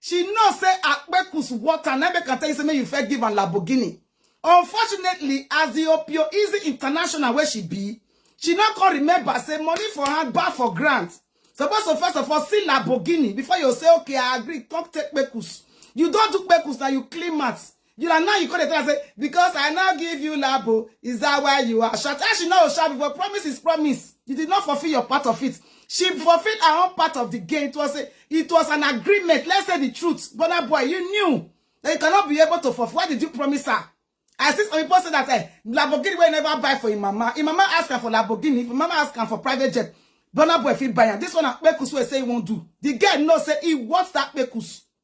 She know say Akpeku's water na make am tell you say make you first give am Lamborghini. Unfortunately, as the Opio Easy International where she be, she not can remember say money for her bar for grant. Suppose to first of all see Lamborghini before you say okay I agree. Come take Kpekus. You don't do Kpekus now you clean mats. You are now you come dey tell am say because I now give you labo is that why you are short? How she no short before promise is promise. You did not fulfill your part of it. She fulfilled her own part of the game. It was a, it was an agreement. Let's say the truth. Burna Boy, you knew that you cannot be able to fulfill. Why did you promise her? I see some people say that eh, Lamborghini will never buy for him mama. Him mama ask her for Lamborghini. If mama ask her for private jet, Burna Boy fit buy her. This one Akpekus will say he won't do. The girl knows say he wants that Akpekus.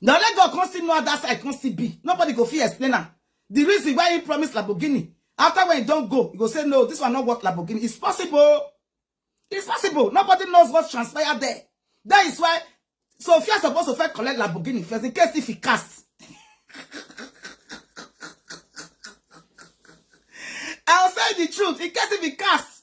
na only god come still know how that side come still be nobody go fit explain am the reason why he promise lamborghini after when he don go he go say no this one no worth lamborghini it's possible it's possible nobody knows what transpired there that is why sophia suppose to first collect lamborghini first in case if he cast i'll say the truth in case if he cast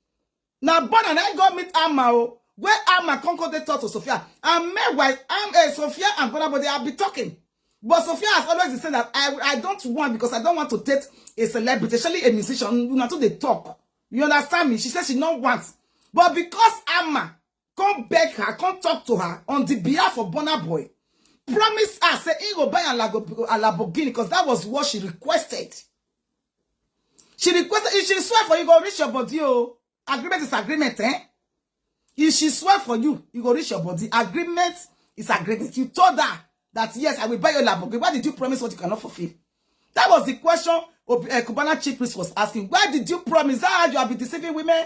Na Bona na go meet Amma o. Where Amma come come dey talk to Sophia. And meanwhile, Am- eh, Sophia and Bona but they have been talking. But Sophia has always been saying that I, I don't want because I don't want to date a celebrity, especially a musician. Una too dey talk. You understand me? She says she no want. But because Amma come beg her come talk to her on the behalf of Burna Boy promise her say he go buy a Lamborghini because that was what she requested she requested if she swear for you go reach your body oh agreement is agreement eh if she swear for you you go reach your body agreement is agreement you told her that yes I will buy your Lamborghini why did you promise what you cannot fulfill that was the question uh, Cubana chief priest was asking why did you promise that you have been deceiving women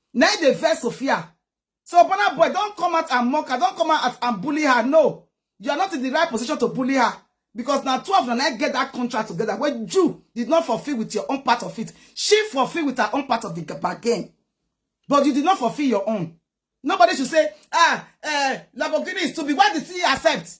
na im dey vex Sophia. So Burna Boy don come out and mock her, don come out and bully her. No, you are not in the right position to bully her because na two of una na im get that contract together wey you did not fulfill with your own part of it. She fulfill with her own part of the g- bargain, but you did not fulfill your own. Nobody should say, ah, eh, Lamborghini is too big. Why did she accept?